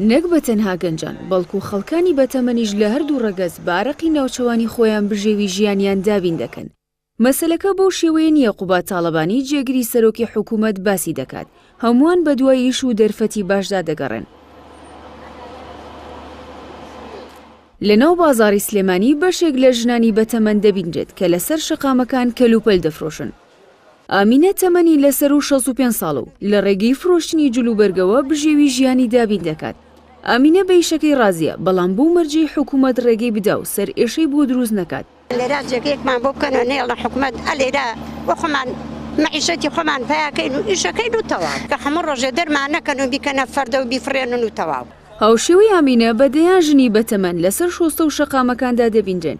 نەک بە تەنها گەنجان، بەڵکو خەڵکانی بەتەمەنیش لە هەردوو ڕەگەز بە ئارەقی ناوچەوانی خۆیان بژێوی ژیانیان دابین دەکەن. مەسەلەکە بەو شێوەیە نییە قوباد تاڵەبانی جێگری سەرۆکی حکوومەت باسی دەکات، هەمووان بەدوای ئیش و دەرفەتی باشدا دەگەڕێن. لەناو بازاڕی سلێمانی بەشێک لە ژنانی بەتەمەن دەبینرێت کە لەسەر شەقامەکان کەلوپەل دەفرۆشن، ئامینە تەمەنی لە سەروو شەست و پێنج ساڵە و لە ڕێگەی فرۆشتنی جلوبەرگەوە بژێوی ژیانی دابین دەکات. ئامینە بە ئیشەکەی ڕازییە، بەڵام بەو مەرجەی حکوومەت ڕێگەی بدا و سەرئێشەی بۆ دروست نەکات. لێرە جێگەیەکمان بۆ بکەن و نەیەڵن حکوومەت ئە لێرە بۆ خۆمان مەعیشەتی خۆمان پەیا کەین و ئیشە کەین و تەواو. کە هەموو ڕۆژێ دەرمان نەکەن و بیکەنە فەردە و بیفڕێنن و تەواو. هاوشێوەی ئامینە بە دەیان ژنی بەتەمەن لەسەر شۆستە و شەقامەکاندا دەبینرێن.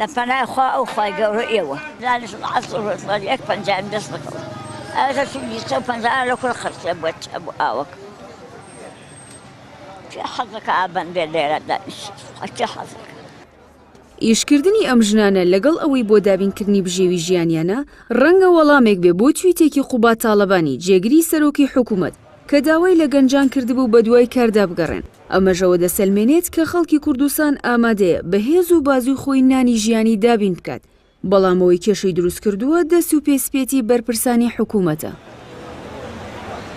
لە پەنای خوا ئەو خوای گەورە ئێوە دانیشم عەسر و ڕۆژ بەر یەک پەنجایم دەست بکەوە ئەوە کە چوو بیست و پەنجا لە کورە خەرچیە بۆ چ بۆ ئاوەکە کێ حەز دەکا ئابەن بێ لێرە دانیشێت کێ حەز دەکا ئیشکردنی ئەم ژنانە لەگەڵ ئەوەی بۆ دابینکردنی بژێوی ژیانیانە، ڕەنگە وەڵامێک بێ بۆ تویتێکی قوباد تاڵەبانی جێگری سەرۆکی حکومەت کە داوای لە گەنجان کردبوو بەدوای کاردا بگەڕێن. ئەمەش ئەوە دەسەلمێنێت کە خەڵکی کوردستان ئامادەیە بە هێز و بازووی خۆی نانی ژیانی دابین بکات، بەڵام ئەوەی کێشەی دروستکردووە دەست و پێ سپێتی بەرپرسانی حکوومەتە.